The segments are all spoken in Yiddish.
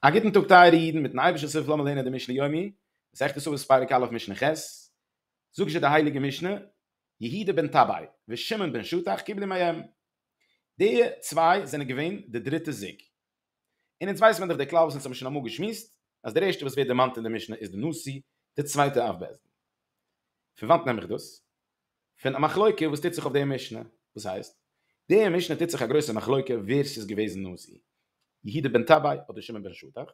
א גוטן טאג טייערע אידן, מיטן אייבערשטנ'ס הילף לאמיר לערנען די משלי יומי, מסכת סוכות פרק א' משנה ח', זאגט זשע די הייליגע משנה, יהודה בן טבאי ושמעון בן שטח קיבלו מהם, די צוויי זענען געווען די דריטע זוג, און אונז ווייסט מען דאך די כלל וואס אונז האבן שוין אמאל געשמועסט, אז דער ערשטער וואס ווערט דערמאנט אין די משנה איז די נשיא, די צווייטע אב בית דין. פון וואנט נעם איך דאס? פון א מחלוקה וואס טוט זיך אויף די משנה, וואס הייסט? די משנה טוט זיך א גרויסע מחלוקה ווער ס'איז געוועזן נשיא, יהודה בן טבאי אדער שמעון בן שטח?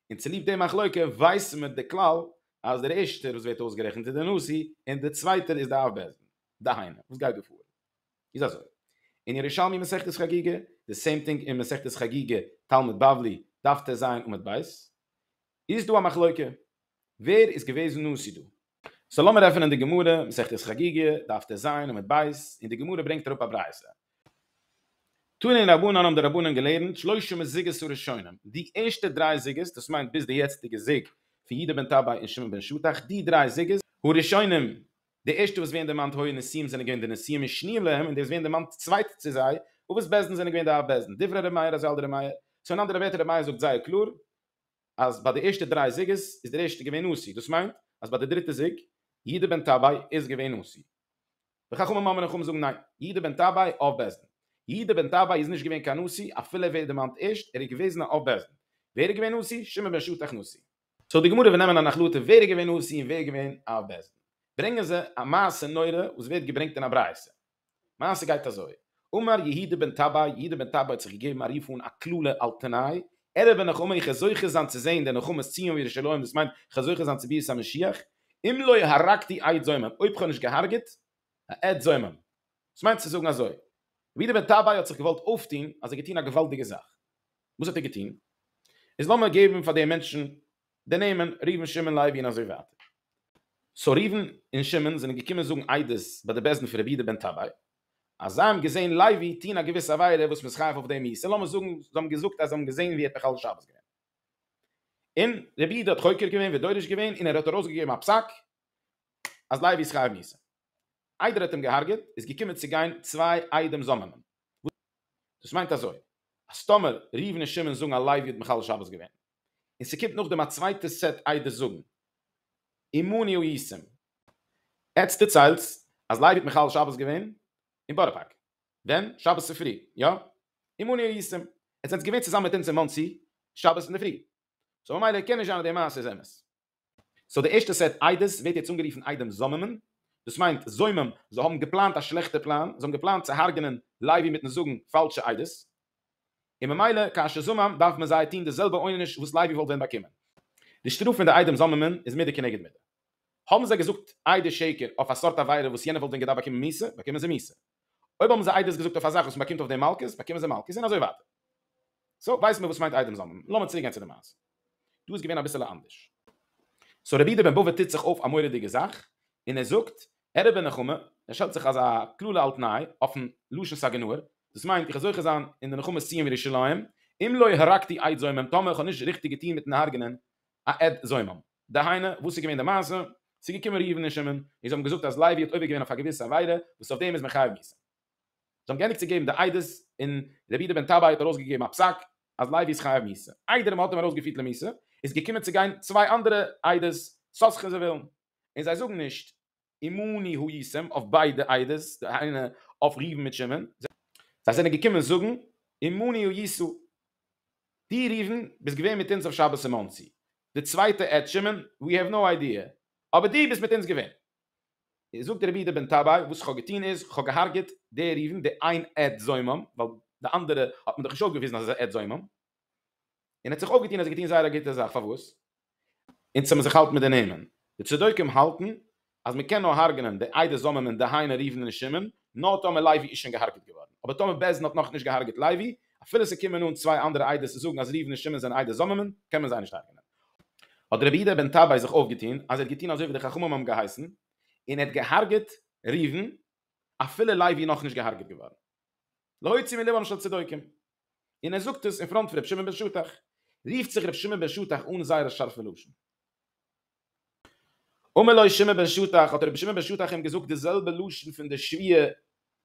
און צוליב די מחלוקה ווייסן מיר די כלל אז דער ערשטער וואס ווערט אויסגערעכנט איז דער נשיא און דער צווייטער איז דער אב בית דין. דהיינו, וואס גייט דא פאר איז אזוי, אין ירושלמי מסכת חגיגה, די סעים טינג אין מסכת חגיגה תלמוד בבלי דף טז עמוד ב', איז דא א מחלוקה ווער איז געוועזן נשיא דא, סאו לאמיר עפענען די גמרא, מסכת חגיגה, דף טז עמוד ב', און די גמרא ברענגט אראפ א ברייתא. תנין רבנן האבן די רבנן געלערנט, שלושה מזוגות הראשונים, די ערשטע דריי זוגות, דאס מיינט ביז די יעצטיגע זוג פון יהודה בן טבאי און שמעון בן שטח, די דריי זוגות, הראשונים, די ערשטע וואס ווערן דערמאנט הוי נשיאים זענען געווען די נשיאים און שניאים להם, און די וואס ווערן דערמאנט צווייט צו זיי, אבות בית דין זענען געווען די אב בית דין, דברי ר' מאיר אזי על דר' מאיר, צו אין אנדערע ווערטער ר' מאיר זאגט זייער קלאר, אז ביי די ערשטע דריי זוגות איז דער ערשטער געווען נשיא, דאס מיינט אז ביי די דריטע זוג, יהודה בן טבאי, איז געווען נשיא. די חכמים אמר נחמה זאגן ניין, יהודה בן טבאי אב בית דין. יהודה בן טבאי איז נישט געווען קיין נשיא, אפילו ער ווערט דערמאנט ערשט, ער איז געוועזן א אב בית דין. ווער איז געווען נשיא? שמעון בן שטח נשיא. סאו די גמרא וועט נעמען אן החלטה ווער איז געווען נשיא און ווער איז געווען אב בית דין. ברענגען זיי א מעשה נורא וואס ווערט געברענגט אין א ברייתא. מעשה גייט אזוי, אמר יהודה בן טבאי, יהודה בן טבאי האט זיך געגעבן א רוף אן א קללה על תנאי, ערב הנחמה איך וועל זוכה זיין צו זען די נחמת ציון וירושלים דאס מיינט איך וועל זוכה זיין צו ביאת המשיח, אם לא הרגתי עד זומם אויב איך האב נישט געהארגעט א עד זומם, דאס מיינט צו זאגן אזוי, רבי יהודה בן טבאי האט זיך געוואלט אויפטון אז ער האט געטון א געוואלדיגע זאך, וואס האט ער געטון? איז לאמיר געבן פאר די מענטשן די נעמען, ראובן שמעון לוי און אזוי ווייטער. סאו ראובן און שמעון זענען געקומען זאגן עדות ביי די בית דין פון רבי יהודה בן טבאי אז זיי האבן געזען לוי טוהן א געוויסע עבירה וואס מ'איז חייב אויף דעם איסור, לאמיר זאגן זיי האבן געזאגט אז זיי האבן געזען ווי ער האט מחלל שבת געווען. און רבי יהודה האט חוקר געווען ודורש געווען און ער האט ארויסגעגעבן א פסק אז לוי איז חייב מיתה. איידער ער האט אים געהארגעט איז געקומען צו גיין צוויי עדים זאמענען. דאס מיינט אזוי אז טאמער ראובן און שמעון זאגן אז לוי האט מחלל שבת געווען און ס'קומט נאכדעם א צווייטע סעט איידער זאגן אמוני הוא ישם. עטץ דערציילטס אז לייבי האט מחלל שבת געווען אין בארא פארק. ווען? שבת צופרי, יא? אמוני הוא ישם. עטס זענטס געווען צוזאמען מיט אונז אין מאנסי שבת אינדערפרי. סאו ממילא קען נישט זיין אז די מעשה איז אמת. סאו די ערשטע סעט עדות ווערט יעצט אנגערופן עדים זוממים, דאס מיינט זומם, זיי האבן געפלאנט א שלעכטע פלאן, זיי האבן געפלאנט צו הרג'נען לייבי מיטן זאגן פאלשע עדות, און ממילא כאשר זומם דארף מען זיי טון די זעלבע עונש וואס לייבי וואלט ווען באקומען. די שטראף פון די עדים זוממים איז מידה כנגד מידה. האבן זיי געזאגט עדות שקר אויף א סארט עבירה וואס יענער וואלט ווען געדארפט באקומען מוסר, באקומען זיי מוסר. אויב האבן זיי עדות געזאגט אויף א זאך וואס מען באקומט אויף דעם מלקות, באקומען זיי מלקות און אזוי ווייטער. סאו ווייסט מען וואס מיינט איידעם זאמד. לאמיר צוריק גיין צו די מעשה. דא איז געווען אביסעלע אנדערש. סאו רבי איד בן בבא טוט זיך אויף א מורא'דיגע זאך, און ער זאגט, ערעב און נחמה, ער שטעלט זיך אזא קללה על תנאי, אויפן לשון סאגענאר, דאס מיינט איך וועל זוכה זיין אין די נחמת ציון וירושלים, אם לא הרגתי עד זומם, טאמער איך האב נישט ריכטיג געטון מיטן הרג'נען א עד זומם. דהיינו, וואס איז געווען די מעשה? ס'איז געקומען ראובן און שמעון, און זיי האבן געזאגט אז לוי האט עובר געווען אויף א געוויסע עבירה, וואס אויף דעם איז מען חייב מיסים. זיי האבן געענדיגט צו געבן די עדות, און רבי יהודה בן טבאי האט ארויסגעגעבן א פסק, אז לוי איז חייב מיסים. איידער מען האט אים ארויסגעפירט למיסים, איז געקומען צו גיין צוויי אנדערע עדות, סאסכע זיי ווילן, און זיי זאגן נישט, אמוני הוא ישם אויף ביידע עדות, די איינע אויף ראובן מיט שמעון, זיי זענען געקומען זאגן, אמוני הוא ישא, דו ראובן ביסט געווען מיט אונז אויף שבת אין מאנסי, די צווייטע עד, שמעון, ווי העוו נאו איידיע, אבער דו ביסט מיט אונז געווען. זאגט רבי איד בן טבאי, וואס איך האב געטון איז, איך האב געהארגעט די ראובן, די איין עד זומם, ווייל די אנדערע האט מען דאך נישט אויפגעוויזן אז ער איז א עד זומם, און ער האט זיך אויפגעטון אז ער האט געטון זייער א גוטע זאך, פארוואס אונז זאל מען זיך האלטן מיט די נעמען? די צדוקים האלטן אז מען קען נאר הרג'נען די עדה זוממין דהיינו ראובן און שמעון נאר טאמער לוי איז שוין געהארגעט געווארן, אבער טאמער בעש ד האט נאכנישט געהארגעט לוי, אפילו ס'קומען אן צוויי אנדערע עדות צו זאגן אז ראובן און שמעון זענען עדה זוממין, קען מען זיי נישט הרג'נען. האט רבי יהודה בן טבאי זיך אויפגעטון אז ער האט געטון אזוי ווי די חכמים האבן געהייסן, און ער האט געהארגעט ראובן אפילו לוי איז נאכנישט געהארגעט געווארן. להוציא מליבם של צדוקים. און ער זאגט עס אין פראנט פון רבי שמעון בן שטח, רופט זיך רבי שמעון בן שטח אן זייער א שארפע לשון. אמר לו שמעון בן שטח, האט רבי שמעון בן שטח אים געזאגט די זעלבע לשון פון די שביעי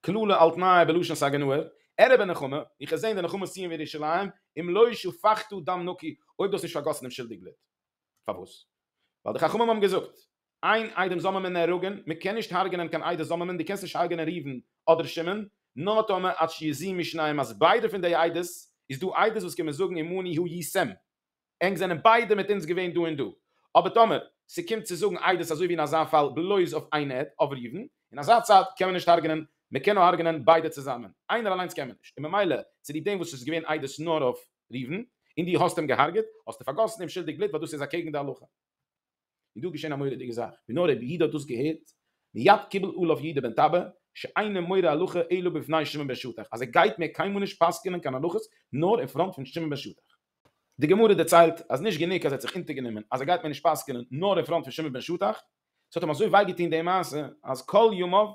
קללה על תנאי בלשון סגנוהר, ערב אין נחמה, איך האב געזען די נחמה סיום ווי ירושלים, אם לא שפכתו דם נקי, אויב דו האסט נישט פארגאסן אומשולדיג בלוט. פארוואס? ווייל די חכמים האבן געזאגט, איין איידעם זאל מען מען נהרג'ן, מען קען נישט הרג'נען קיין איידעס זאל מען מען, דו קענסט נישט הרג'נען ראובן אדער שמעון, נאר טאמער עד שיזיעו משניהם אז ביידע פון די איידעס, איז דא איידעס וואס קומען זאגן עמני הוא י ס, ענק זענען ביידע מיט אונז געווען דא און דא, אבער טאמער ס'קומט צו זאגן עדות אזוי ווי אין אזא פאל בלויז אויף איין עד, אויף ראובן, אין אזא צד קען מען נישט הרג'נען, מען קען נאר הרג'נען ביידע צוזאמען, איינער אליינס קען מען נישט, און ממילא צוליב דעם וואס עס איז געווען עדות נאר אויף ראובן, און דו האסט אים געהרג'עט, האסטו פארגאסן אומשולדיג בלוט ווייל דאס איז אקעגן די הלכה. איז דא געשען א מורא'דיגע זאך, ווי נאר רבי יהודה האט דאס געהערט, מיד קיבל עליו יהודה בן טבא, שאינו מורה הלכה אלא בפני שמעון בן שטח, אז ער גייט מער קיינמאל נישט פסק'ענען קיין הלכות נאר אין פראנט פון שמעון בן שטח. די גמרא דערציילט אז נישט גענוג אז ער האט זיך אונטערגענומען אז ער גייט מער נישט פסק'ענען נאר אין פראנט פון שמעון בן שטח, ס'האט אים אזוי וויי געטון די מעשה, אז כל ימיו,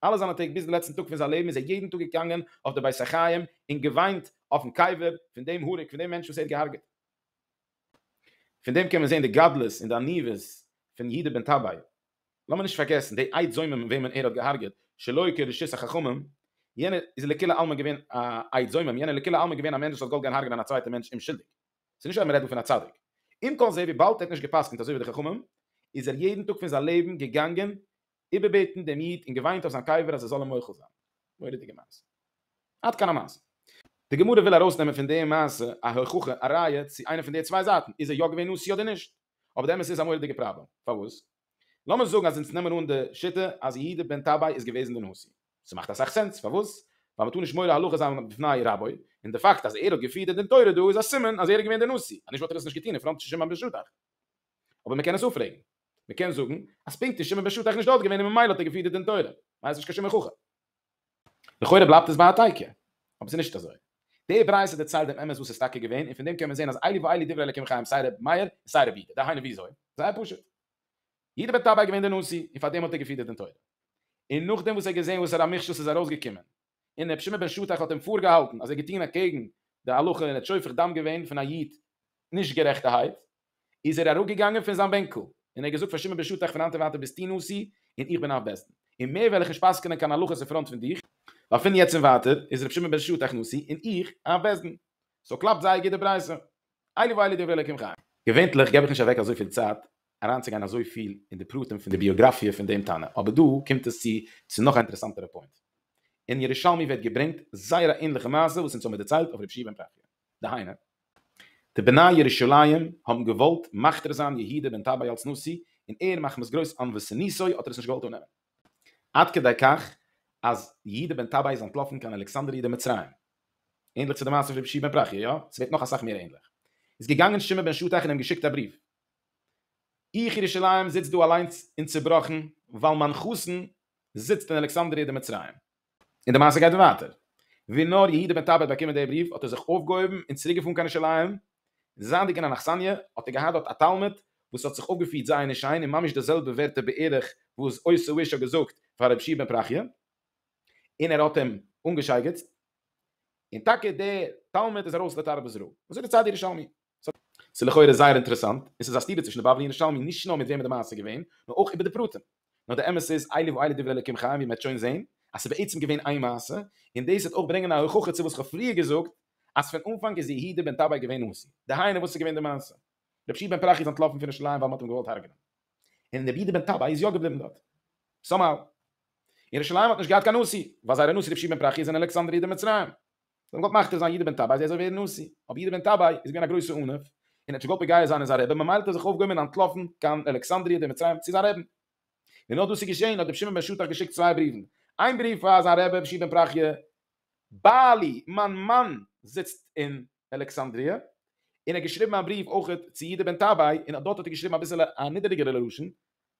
אלע זיינע טעג ביז די לעצטן טאג פון זיין לעבן, איז ער יעדן טאג געגאנגען אויף די בית החיים און געוויינט אויפן קבר פון דעם הורג, פון דעם מענטש וואס ער האט געהארגעט. פון דעם קען מען זען די גדלות און די עניוות פון יהודה בן טבאי. לאמיר נישט פארגעסן די עיד זומם וועמען ער האט געהארגעט שלא כרשות החכמים, יענער איז לכולי עלמא געווען א עיד זומם, יענער איז לכולי עלמא געווען א מענטש וואס האט געוואלט גיין הארגענען א צווייטע מענטש אומשולדיג. ס'איז נישט אז מ'רעדט דא פון א צדיק. עם כל זה וויבאלד ער האט נישט גע'פסק'נט אזוי ווי די חכמים, איז ער יעדן טאג פון זיין לעבן געגאנגען איבערבעטן דעם איד און געוויינט אויף זיין קבר אז ער זאל אים מוחל זיין. מורא'דיגע מעשה. עד כאן המעשה. די גמרא וויל ארויסנעמען פון די מעשה א הוכחה, א ראיה, צו איינע פון די צוויי זייטן איז ער יא געווען נשיא אדער נישט. אבער די אמת איז א מורא'דיגע פראבלעם. פארוואס? לאמיר זאגן אז אונז נעמען אן די שיטה אז יהודה בן טבאי איז געוועזן די נשיא. ס'מאכט אסאך סענס. פארוואס? ווייל מ'טאר נישט מורה הלכה זיין בפני רבו, און די פאקט אז ער האט געפירט די דין תורה דא איז א סימן אז ער איז געווען די נשיא, אז נישט וואלט ער עס נישט געטון אין פראנט שומעון בן שטח. אבער מ'קען עס אפרעגן. מען קען זאגן אז פונקט איז שמעון בן שטח נישט דארט געווען און ממילא האט ער געפירט די דין תורה, ווייל ער איז נישט קיין שום הוכחה. לכאורה בלייבט עס ביי א תייקע, אבער ס'איז נישט אזוי. די ברייתא דערציילט דעם אמת וואס איז טאקע געווען, און פון דעם קען מען זען אז אלי ואלי דברי אלקים חיים סיי ר' מאיר און סיי ר' יהודה. דהיינו וויאזוי? זייער פשוט. יהודה בן טבאי איז געווען דער נשיא, און פארדעם האט ער געפירט די דין תורה. און נאכדעם וואס ער האט געזען וואס פאר א מכשול ס'איז ארויסגעקומען, און רבי שמעון בן שטח האט אים פארגעהאלטן אז ער האט געטון אקעגן די הלכה און האט שופך דם געווען פון א איד נישט גערעכטערהייט, איז ער אראפגעגאנגען פון זיין בענקל און ער האט געזאגט פאר שמעון בן שטח פון היינט און ווייטער ביסטו נשיא און איך בין אב בית דין און מער וועל איך נישט פסק'נען קיין הלכות אין פראנט פון דיך, ווייל פון יעצט און ווייטער איז רבי שמעון בן שטח נשיא און איך אב בית דין, סאו קלאפט זייער גוט די ברייתא. איילי ואיילי דברי אלוקים חיים. געווענטליך געב איך נישט אוועק אזויפיל צייט אריינצוגיין אזויפיל אין די פרטים פון די ביאגראפיע פון דעם תנא, אבער דא קומט עס צו צו נאך א אינטערעסאנטערע פוינט. אין ירושלמי ווערט געברענגט זייער א ענליכע מעשה וואס אונז האמיר דערציילט אויף ר' פשי' בן פרחיה. דהיינו, די בני ירושלים האבן געוואלט מכתיר זיין יהודה בן טבאי אלס נשיא, און ער מחמת גרויס ענוות סניסו האט ער עס נישט געוואלט אננעמען. עד כדי כך אז יהודה בן טבאי איז אנטלאפן קיין אלכסנדריה דמצרים. ענדליך צו די מעשה פון רבי שמעון בן פרחיה, יא? ס'ווערט נאך אסאך מער ענדליך. איז געגאנגען שמעון בן שטח און אים געשיקט א בריוו, איך ירושלים זיץ דא אליינס און צובראכן, ווייל מיין חתן זיצט אין אלכסנדריה דמצרים. און די מעשה גייט ווייטער. ווי נאר יהודה בן טבעי האט באקומען די בריוו, האט ער זיך אויפגעהויבן און צוריק געפארן קיין ירושלים, זייענדיג אין אן אכסניא, האט ער געהאט דארט א תלמיד, וואס האט זיך אויפגעפירט זייער נישט שיין, און ממש די זעלבע ווערטער בערך וואס עשו איש האט געזאגט פאר רבי שמעון בן פרחיה. און ער האט אים אנגעשייגעצט, און טאקע דער תלמיד איז ארויס לתרבות רעה. אזוי דערציילט די ירושלמי. ס'איז לכאורה זייער אינטערעסאנט, און ס'איז א סתירה צווישן די בבלי און ירושלמי, נישט נאר מיט וועמען די מעשה איז געווען, נאר אויך איבער די פרטים. נאר די אמת איז, אלי ואלי דברי אלוקים חיים, ווי מ'עט שוין זען, אז ס'איז בעצם געווען איין מעשה, און דאס וועט אויך ברענגען א הוכחה צו וואס כ'האב פריער געזאגט, אז פון אנפאנג איז יהודה בן טבאי געווען נשיא. דהיינו, וואס איז געווען די מעשה? רבי שמעון בן פרחי איז אנטלאפן פון ירושלים ווייל מ'האט אים געוואלט הרג'נען. און רבי יהודה בן טבאי איז יא געבליבן דארט. סאמהאו. ירושלים האט נישט געהאט קיין נשיא, ווייל זייערע נשיא רבי שמעון פרחי איז אין אלעקסאנדריע די מצרים. זיי האבן געוואלט מכתיר זיין יהודה בן טבעי זי זאל ווערן נשיא, אבער יהודה בן טבעי איז געווען א גרויסע עניו, און ער האט נישט געוואלט פוגע זיין אין זיין רעבען, ממילא האט ער זיך אויפגעהויבן און אנטלאפן קיין אלעקסאנדריע די מצרים צו זיין רעבען. ווען נאר דאס איז געשען, האט רבי שמעון בן שטח געשיקט צוויי בריוון, איין בריוו פאר זיין רבי רבי שמעון פרחי, בעלי, מיין מאן זיצט אין אלעקסאנדריע, און ער האט געשריבן א בריוו אויך צו יהודה בן טבעי, און דארט האט ער געשריבן אביסעלע א נידעריגערע לשון,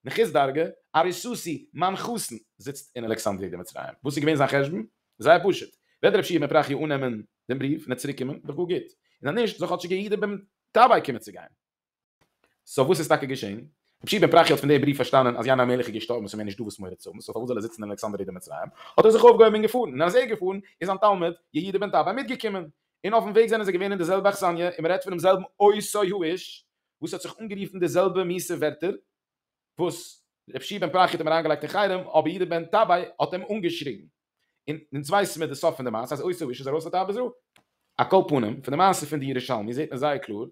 נחוס דרגא, ארי סוסי, מיין חתן, זיצט אין אלכסנדריה דמצרים. וואס איז געווען זיין חשבון? זייער פשוט. וועט רב שמעון בן פרחיה אננעמען דעם בריוו און עס צוריקקומען, דאך גאר גוט. און אז נישט, זאל כאטשיג יהודה בן טבאי קומען צו גיין. סאו וואס איז טאקע געשען? רב שמעון בן פרחיה האט פון דעם בריוו פארשטאנען אז יין המלך איז געשטארבן און ס'איז מער נישט דא וואס מורא צו האבן, סאו פארוואס זאל ער זיצן אין אלכסנדריה דמצרים? האט ער זיך אויפגעהויבן און געפארן. און אז ער איז געפארן, איז זיין תלמיד, יהודה בן טבאי, מיטגעקומען. און אויפ'ן וועג זענען זיי געווען אין די זעלבע אכסניא, און מ'רעדט פונעם זעלבן עושי האיש, וואס האט זיך אנגערופן די זעלבע מיסע ווערטער וואס ר' שי' בן פרחי האט אים אריינגעלייגט אין חרם, אבער יעדער בן טבעי האט אים אנגעשריגן. און אונז ווייסן מיר די סוף פון די מעשה אז עשו איש איז ארויס לטייל בזרעו. על כל פנים, פון די מעשה פון די ירושלמי זעט מען זייער קלאר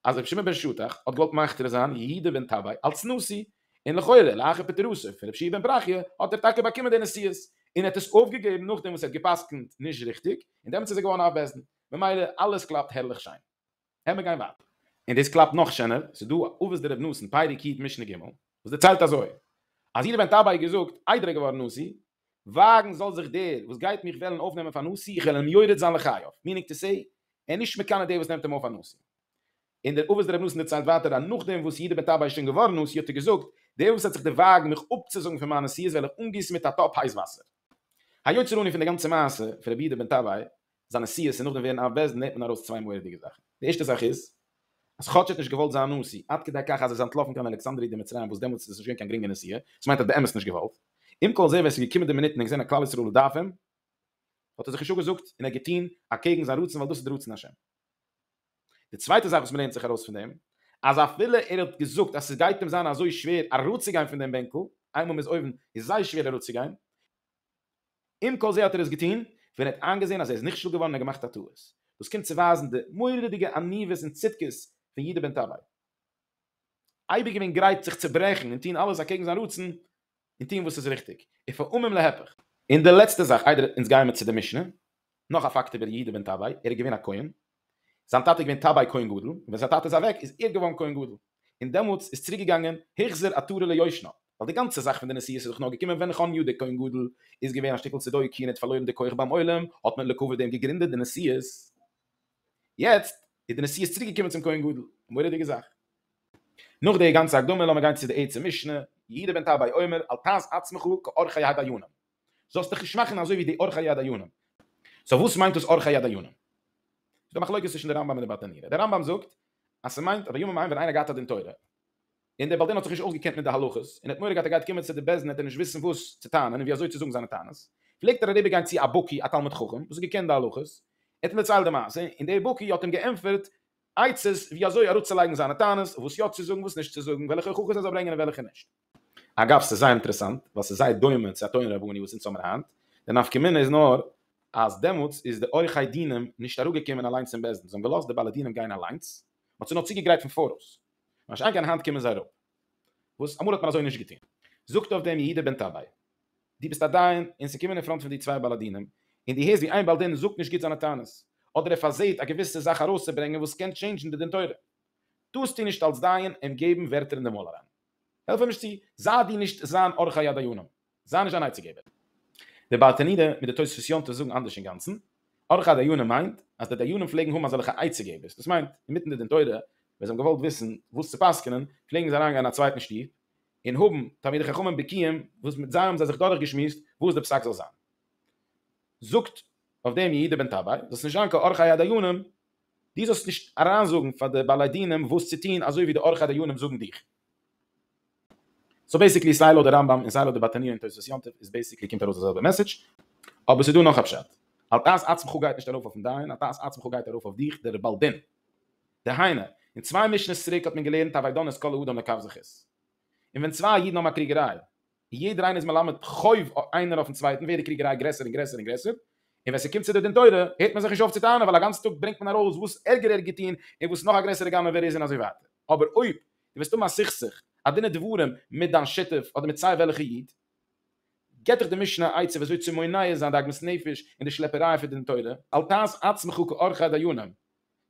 אז ר' שמעון בן שטח האט געוואלט מכתיר זיין יהודה בן טבעי אלס נשיא, און לכאורה לאחר פטירתו פון ר' שי' בן פרחי האט ער טאקע באקומען די נשיאות, און ער האט עס אויפגעגעבן נאכדעם וואס ער האט גע'פסק'נט נישט ריכטיג, און דעמאלטס איז ער געווארן אויף בעסטן. ממילא אלעס קלאפט הערליך שיין. העמער גיין ווייטער. און דאס קלאפט נאך שענער, ס'איז דא א אבות דרב נתן פרק יט משנה ג, וואס דערציילט אזוי, אז איר ווענט אביי געזאגט, איידער ער געווארן נשיא, וואגן זאל זיך דער, וואס גייט מיך וועלן אויפנעמען פאר נשיא, איך וועל אים יורד זיין לחייו, מיענינג טו סעי, ער איז נישט מקנא דער וואס נעמט אים אויף פאר נשיא. און דער אבות דרב נתן דערציילט ווייטער, אז נאך דעם וואס יהודה בן טבאי איז שוין געווארן נשיא, האט ער געזאגט, דער וואס וועט זיך דערוואגן מיך אפצוזאגן פון מיין נשיאות וועל איך אנגיסן מיט א טאפ הייס וואסער. היוצא ראני פון די גאנצע מעשה פון רבי יהודה בן טבאי, זיין נסיעות און נאכדעם ווערן אב בעש ט נעמט מען ארויס צוויי מורא'דיגע זאכן. די ערשטע זאך איז אז כאטש ער האט נישט געוואלט זיין נשיא, עד כדי כך אז ער איז אנטלאפן קיין אלכסנדרי' דמצרים וואס דעמאלטס איז עס נישט געווען קיין גרינגע נסיעה, דאס מיינט ער האט באמת נישט געוואלט. עם כל זה ווען עס איז געקומען די מינוט און ער האט געזען אז כלל ישראל דארף אים, האט ער זיך נישט אפגעזאגט און ער האט געטון אקעגן זיין רצון ווייל דאס איז די רצון השם. די צווייטע זאך וואס מ'לערנט זיך ארויס פון דעם, אז אפילו ער האט געזאגט אז ס'גייט אים זיין אזוי שווער אראפצוגיין פון דעם בענקל, איינמאל מ'איז אויבן איז זייער שווער אראפצוגיין, עם כל זה האט ער עס געטון ווען ער האט איינגעזען אז ער איז נכשל געווארן און געמאכט א טעות. דאס קומט צו ווייזן די מורא'דיגע עניוות און צדקות פון יהודה בן טבאי. אייביג געווען גרייט זיך צו ברעכן און טון אלעס אקעגן זיין רצון און טון וואס איז ריכטיג, ופעמים להיפך. און די לעצטע זאך איידער אונז גייען מיר צו די משנה, נאך א פאקט איבער יהודה בן טבאי, ער איז געווען א כהן, זיין טאטע איז געווען טביי כהן גדול, און ווען זיין טאטע איז אוועק איז ער געווארן כהן גדול, און דעמאלטס איז צוריק געגאנגען החזר עטרה ליושנה, ווייל די גאנצע זאך פון די נסיעות איז דאך נאר געקומען ווען חנ י דער כהן גדול איז געווען א שטיקל צדוקי און האט פארלוירן די כח ביים עולם, האט מען לכבוד דעם געגרינדעט די נסיעות, יעצט איז די נסיעות צוריק געקומען צום כהן גדול, א מורא'דיגע זאך. נאך די גאנצע הקדמה לאמיר גיין צו די עצם משנה, יהודה בן טביי אומר אל תעז עצמך כאורחי הדיינים. זאלסט דיך נישט מאכן אזוי ווי די אורחא יד היונים. סאו וואס מיינט דאס אורחא יד היונים? ס'איז דא מחלוקת צווישן די רמב ם און די בית הנירא. די רמב ם זאגט אז ס'מיינט אז בימים ההם ווען איינער געהאט א דין תורה און דער בעל דין האט זיך נישט אויסגעקענט מיט די הלכות און האט מורא געהאט ער גייט קומען צו די בית דין וועט ער נישט וויסן וואס צו טענה'ן און ווי אזוי צו זאגן זיינע טענות פלעגט ער אריבער גיין צו א בקי א תלמיד חכם וואס האט געקענט די הלכות ער האט אים דערציילט די מעשה און דער בקי האט אים געענטפערט עצות ווי אזוי אראפצולייגן זיינע טענות וואס יא צו זאגן וואס נישט צו זאגן וועלכע הוכחות ער זאל ברענגען און וועלכע נישט. אגב, ס'איז זייער אינטערעסאנט, ווייל ס'איז זייער דומה צו א תורה רבני וואס אונז האבן היינט, די נפקא מינה איז נאר אז דעמאלטס איז די עורכי דינים נישט אראפגעקומען אליינס אין בית דין, זיי האבן געלאזט די בעלי דינים גיין אליינס, מ'האט זיי נאר צוגעגרייט פון פאראויס. מה שאין כן היינט קומען זיי אראפ, וואס אמאל האט מען אזוי נישט געטון. זאגט אויף דעם יהודה בן טבאי, דו ביסט א דיין און ס'קומען אין פראנט פון דיר צוויי בעלי דינים, און דו הערסט ווי איין בעל דין זאגט נישט גוט זיינע טענות, אדער ער פארזעט א געוויסע זאך ארויסצוברענגען וואס קען טשעינדזשן די דין תורה, טארסטו נישט אלס דיין אים געבן ווערטער אין די מויל אריין. העלף אים נישט צו, זיי דו נישט זיין אורחא יד היונים, זיי נישט זיין עצה געבער. דער בעל תנידה מיט דער תוספות יום טוב זאגן אנדערש אינגאנצן, אורחא דיונים מיינט אז די דיינים פלעגן האבן אזעלכע עצה געבערס, דאס מיינט אינמיטן די דין תורה ווען זיי האבן געוואלט וויסן וואס צו פסק'נען פלעגן זיי אריינגיין אין א צווייטן שטוב און האבן תלמידי חכמים בקיאים וואס מיט זיי האבן זיי זיך דורכגעשמועסט וואס דער פסק זאל זיין. זאגט אויף דעם יהודה בן טבאי, זאלסט נישט זיין קיין אורחא יד היונים, דו זאלסט נישט אריינזאגן פאר די בעלי דינים וואס צו טון אזוי ווי די עורכי דיינים זאגן דיך. סאו בעסיקלי סיי לויט די רמב ם און סיי לויט די בטניא און תוספות יום טוב איז בעסיקלי קומט ארויס די זעלבע מעסעדזש, אבער ס'איז דא נאך א פשט, על תעש עצמך גייט נישט ארויף אויפן דיין, על תעש עצמך גייט ארויף אויף דיך דער בעל דין. דהיינו, אין צוויי משנה'ס צוריק האט מען געלערנט הווי דן את כל האדם לכף זכות. און ווען צוויי אידן האבן א קריגעריי, יעדער איינער איז מלמד חוב איינער אויפן צווייטן ווערט די קריגעריי גרעסער און גרעסער און גרעסער, און ווען ס'קומט צו די דין תורה הערט מען זיך נישט אויף צו טענה'ן ווייל א גאנצן טאג ברענגט מען ארויס וואס ערגער ער האט געטון און וואס נאך א גרעסערע גנב ער איז און אזוי ווייטער, אבער אויב דו וועסט האבן א סכסוך, א דין ודברים, מיט דיין שותף אדער מיט סיי וועלכע איד, געט דיך די משנה א עצה ווי אזוי צו מונע זיין די עגמת נפש און די שלעפעריי פון דין תורה. אל תעש עצמך כאורחי דיינים,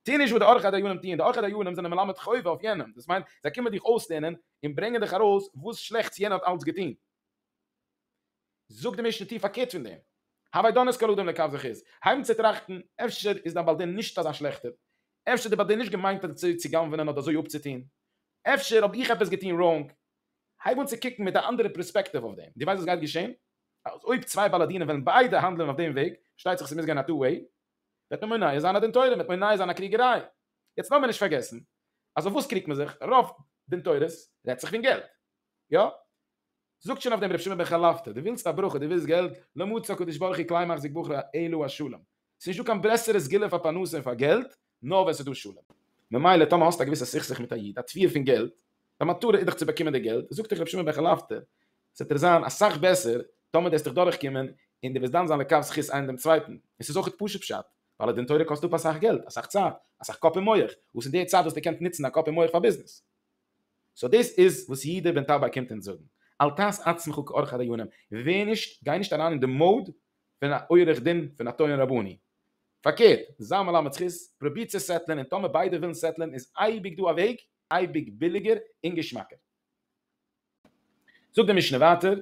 טו נישט וואס די עורכי דיינים טוען, די עורכי דיינים זענען מלמד חובה אויף יענעם, דאס מיינט זיי קומען דיך אויסלערנען און ברענגען דיך ארויס וואס שלעכטס יענער האט אלץ געטון. זאגט די משנה טו פארקערט פון דעם. הווי דנות כל אדם לכף זכות, הייב אן צו טראכטן, אפשר איז דיין בעל דין נישט אזא שלעכטער, אפשר האט די בעל דין נישט געמיינט אזוי צו גנב'ענען אדער אזוי אפצוטון, אפשר האב איך עפעס געטון ראונג, הייב אן צו קוקן מיט א אנדערע פרעספעקטיוו אויף דעם, דו ווייסט וואס גייט געשען? אז אויב צוויי בעלי דינים וועלן ביידע האנדלען אויף דעם וועג, פארשטייט זיך ס'מוז גיין א טו וועי, וועט מען מונע זיין א דין תורה, מ'וועט מונע זיין א קריגעריי. יעצט לאמיר נישט פארגעסן אז אויף וואס קריגט מען זיך? רוב דין תורות רעדט זיך פון געלט. יא? זאגט שוין אויף דעם ר' שמעון בן חלפתא, דו ווילסט א ברכה, דו ווילסט געלט, לא מצא הקדוש ברוך הוא כלי מחזיק בחור אלא השלום. ס'איז נישטא קיין ברעסערע סגולה פאר פרנסה און פאר געלט, נאר ווען ס'איז דא שלום. ממילא טאמער האסט א געוויסע סכסוך מיט א איד, א תביעה פון געלט, דיין מטרה איז דאך צו באקומען די געלט, זאגט דיך ר' שמעון בן חלפתא, ס'וועט דיר זיין אסאך בעסער טאמער דערסט דיך דורכקומען און דו וועסט דן זיין לכף זכות איין דעם צווייטן, און ס'איז אויכעט פשוט פשט, ווייל א דין תורה קאסט אפ אסאך געלט, אסאך צייט, אסאך קאפ און מח, וואס אין די צייט וואס דו קענסט נוצן דיין קאפ און מח פאר ביזנעס. סאו דאס איז וואס יעדער בן תרבה קומט אונז זאגן, אל תעש עצמך כעורך הדיונים, ווער נישט, גיי נישט אריין אין די מוד פון א עורך דין פון א טוען רבני, פארקערט, זיי מלמד זכות, פרוביר צו סעטלען און טאמער ביידע ווילן סעטלען איז אייביג דא א וועג, אייביג ביליגער און געשמאקער. זאגט די משנה ווייטער,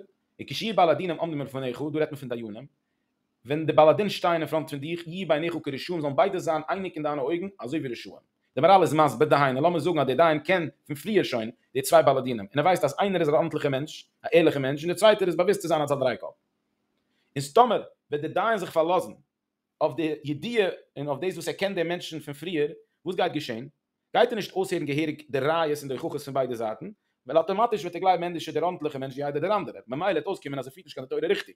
וכשיהיו בעלי דינים עומדים מלפניך, דא רעדט מען פון דיינים, ווען די בעלי דין שטייען אין פראנט פון דיך, יהיו בעיניך כרשעים, זאלן ביידע זיין אייניג אין דיינע אויגן, אזוי ווי רשעים. די מהרל איז מסביר, דהיינו, לאמיר זאגן אז דער דיין קען פון פריער שוין די צוויי בעלי דינים, און ער ווייסט אז איינער איז אן ארנטליכער מענטש, א ערליכער מענטש, און דער צווייטער איז באוויסט צו זיין אלס א דרייקאפ. און ס'טאמער וועט דער דיין זיך פארלאזן אויף די ידיעה און אויף דאס וואס ער קען דעם מענטשן פון פריער, וואס גייט געשען? גייט ער נישט אויסהערן געהעריג די ראיות און די הוכחות פון ביידע זייטן, ווייל אטאמאטיש וועט ער גלייבן ענדערשער דער ארנטליכער מענטש ווי איידער דער אנדערער, ממילא וועט אויסקומען אז ער פירט נישט קיין די תורה ריכטיג.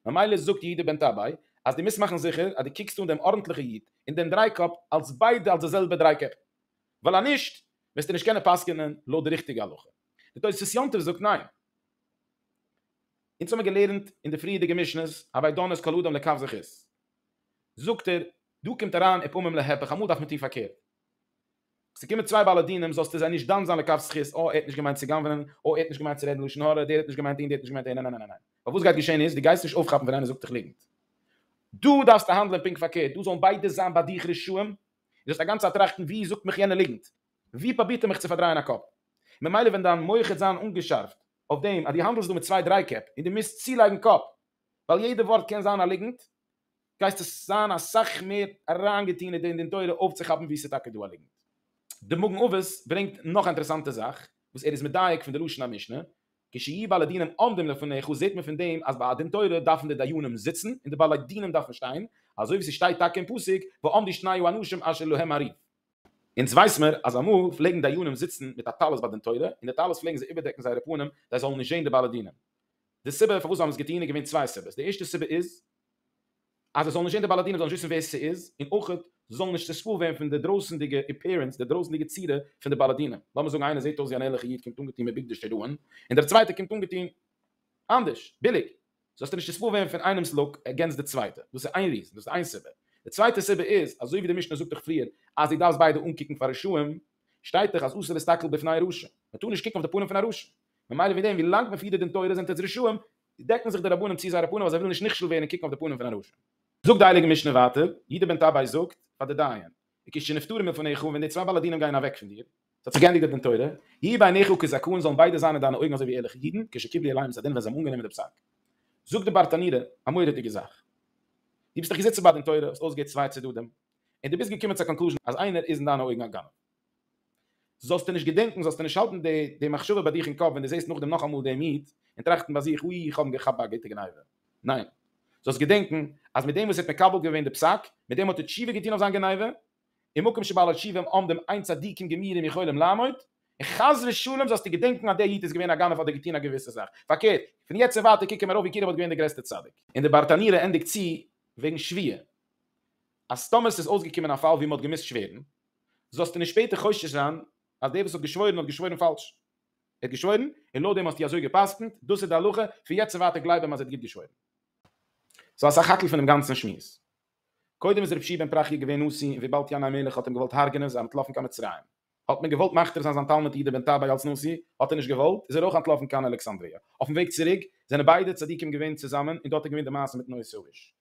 ממילא זאגט יהודה בן טבאי אז דו מוזט מאכן זיכער אז דו קוקסט אן דעם ארנטליכע איד און דעם דריי קאפ אלס ביידע אלס די זעלבע דריי קעפ, ווייל אז נישט וועסטו נישט קענען פסק'ענען לויט די ריכטיגע הלכה. די תוספות יום טוב זאגט ניין. אונז האבן מיר געלערנט אין די פריערדיגע משנה'ס, הווי דן את כל אדם לכף זכות. זאגט ער, דא קומט אריין אפעמים להיפך, אמאל דארף מען טון פארקערט. ס'קומען צוויי בעלי דינים זאלסטו זיי נישט דן זיין לכף זכות, אה ער האט נישט געמיינט צו גנב'נען, אה ער האט נישט געמיינט צו רעדן לשון הרע, דער האט נישט געמיינט דעם, דער האט נישט געמיינט דעם, ניין ניין ניין ניין. ווייל וואס גייט געשען איז, דו גייסט נישט אויפכאפן ווען איינער זאגט דיך ליגנט. דא דארפסטו האנדלען פונקט פארקערט, דא זאלן ביידע זיין ביי דיך רשעים, און זאלסט א גאנצע צייט טראכטן ווי זאגט מיך יענער ליגנט? ווי פרובירט ער מיך צו פארדרייען א קאפ? ממילא ווען דיין מח העט זיין אנגעשארפט אויף דעם אז דו האנדלסט דא מיט צוויי דריי קעפ, און דו מוזט צולייגן קאפ, ווייל יעדע ווארט קען זיין א ליגנט, גייסטו זיין אסאך מער אריינגעטון אין דעם דין תורה אויפצוכאפן וואו ס'איז טאקע דא א ליגנט. דער מגן אבות ברענגט נאך א אינטערעסאנטע זאך וואס ער איז מדייק פון די לשון המשנה, כשיהיו בעלי דינים עומדים לפניך זעט מען פון דעם אז ביי א דין תורה דארפן די דיינים זיצן און די בעלי דינים דארפן שטיין, אזוי ווי ס'שטייט טאקע אין פסוק ועמדו שניו האנשים אשר להם הריב. אונז ווייס מיר אז אמאל פלעגן דיינים זיצן מיט א טלית ביי דין תורה און די טלית פלעגן זיי איבערדעקן זייערע פנים זיי זאלן נישט זען די בעלי דינים. די סיבה פארוואס זיי האבן עס געטון איז געווען צוויי סיבות, די ערשטע סיבה איז אז עס זאל נישט זען די באלאדינער זאלן נישט וויסן ווער ס'איז, און אויך זיי זאלן נישט צעספוילט ווערן פון די דרויסענדיגע אפעירענס, די דרויסענדיגע צורה פון די באלאדינער, לאמיר זאגן איינער זעט אויס ווי אן ערליכע איד קומט אנגעטון מיט בגדי שטראהן, און דער צווייטער קומט אנגעטון אנדערש, ביליג, זאלסטו נישט צעספוילט ווערן פון איינעם'ס לוק עגענסט די צווייטע, דאס איז איין ריזען, דאס איז איין סיבה. די צווייטע סיבה איז, אזוי ווי די משנה זאגט דאך פריער אז דו דארפסט ביידע אנקוקן פאר רשעים, שטייט דאך אז אסור להסתכל בפני רשע, מען טאר נישט קוקן אויף די פנים פון א רשע. ממילא מיט דעם ווי לאנג מען פירט די דין תורה זענט עטס רשעים, דעקן זיך די רבנים צו זייערע פנים אז זיי ווילן נישט נכשל ווערן און קוקן אויף די פנים פון א רשע. זאגט די הייליגע משנה ווייטער, יהודה בן טבאי זאגט פאר די דיין, וכ ש נפטרים מלפניך, ווען די צוויי בעלי דינים גייען אוועק פון דיר, ס'האט זיך געענדיגט די דין תורה, יהי' בעיניך כזקון, זאלן ביידע זיין אין דיינע אויגן אזוי ווי ערליכע אידן, כש קיבלו עליהם את הדין ווען זיי האבן אנגענומען די פסק. זאגט די ברטנורא א מורא'דיגע זאך, דו ביסט דיך געזיצן ביי דין תורה, האסט אויסגעהערט צוויי צדדים, און דו ביסט געקומען צו א קאנקלוזשן אז איינער איז אין דיינע אויגן א גנב, זאלסטו נישט געדענקן, זאלסטו נישט האלטן די מחשבה ביי דיך אין קאפ ווען דו זעסט נאכדעם נאכאמאל דעם איד, און טראכטן ביי זיך, אוי איך האב אים געכאפט ביי א גוטע גניבה. ניין. זאלסט געדענקן, אז מיט דעם וואס ער האט מקבל געווען די פסק, מיט דעם האט ער תשובה געטון אויף זיין גניבה, ומקום שבעלי תשובה עומדים אין צדיקים גמורים יכולים לעמוד, און חס ושלום זאלסטו געדענקן אז דער איד איז געווען א גנב אדער געטון א געוויסע זאך. פארקערט, פון יעצט און ווייטער קוקן מיר ארויף ווי כאילו ער האט געווען דער גרעסטער צדיק. און דער ברטנורא ענדיגט צו וועגן שווייה, אז טאמער עס איז אויסגעקומען א פאל וואו מען האט געמוזט שווערן, זאלסטו נישט שפעטער חושש זיין אז דער וואס האט געשוואוירן האט געשוואוירן פאלש. ער האט געשוואוירן, און לויט דעם האסטו אזוי גע'פסק'נט, דאס איז די הלכה, פון יעצט און ווייטער גלייב אים אז ער האט גוט געשוואוירן. סאו אסאך האקל פונעם גאנצן שמועס. קודם איז רבשי בן פרחיה געווען נשיא און וויבאלד ינאי מלך האט אים געוואלט הרג'נען איז ער אנטלאפן קיין מצרים. האט מען געוואלט מכתיר זיין זיין תלמיד יהודה בן טבעי אלס נשיא, האט ער נישט געוואלט, איז ער אויך אנטלאפן קיין אלכסנדריה. אויפן וועג צוריק זענען ביידע צדיקים געווען צוזאמען און דארט האט געווען די מעשה מיטן עושה איש.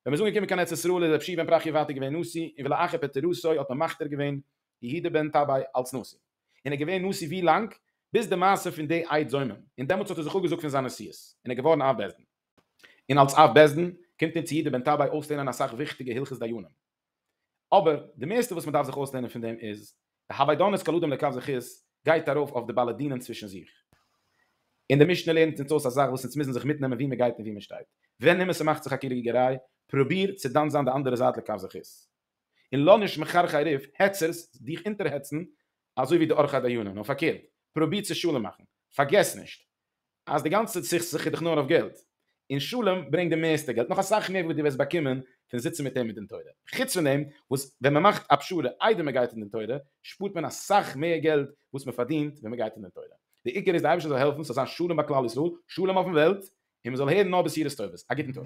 ווען מ'איז אנגעקומען קיין ארץ ישראל איז רבי שמעון בן פרחיה ווייטער געווען נשיא און ולאחר פטירתו האט מען מכתיר געווען יהודה בן טבאי אלץ נשיא און ער געווען נשיא ווי לאנג ביז די מעשה פון די עד זומם און דעמאלטס האט ער זיך אפגעזאגט פון זיין נשיאות און ער געווארן אב בית דין און אלץ אב בית דין קומט אונז יהודה בן טבאי אויסלערנען אסאך וויכטיגע הלכות דיינים. אבער די מערסטע וואס מ'דארף זיך אויסלערנען פון דעם איז, די האביידאנעס כל אדם לכף זכות גייט ארויף אויף די בעלי דינים צווישן זיך. און די משנה לערנט אונז אויס א זאך וואס אונז מוזן זיך מיטנעמען וואו מ'גייט און וואו מ'שטייט. ווען אימער ס'מאכט זיך א קריגעריי, פרוביר צו דן זיין די אנדערע זייט לכף זכות. און לאז נישט מחרחרי ריב, העצערס, דיך אונטערהעצן אזוי ווי די עורכי דיינים, נאר פארקערט, פרוביר צו שלום מאכן. פארגעס נישט, אז די גאנצע סכסוך איז דאך נאר אויף געלט, און שלום ברענגט די מערסטע געלט, נאך אסאך מער וואס דו וועסט באקומען פון זיצן מיט אים אין דין תורה. חוץ פון דעם וואס ווען מען מאכט א פשרה איידער מען גייט אין דין תורה, שפארט מען אסאך מער געלט וואס מען פארדינט ווען מען גייט אין דין תורה. די עיקר איז די אייבערשטער זאל העלפן ס'זאל זיין שלום ביי כלל ישראל, שלום אויפן וועלט, און מען זאל הערן נאר בשורות טובות. א גוטן טאג.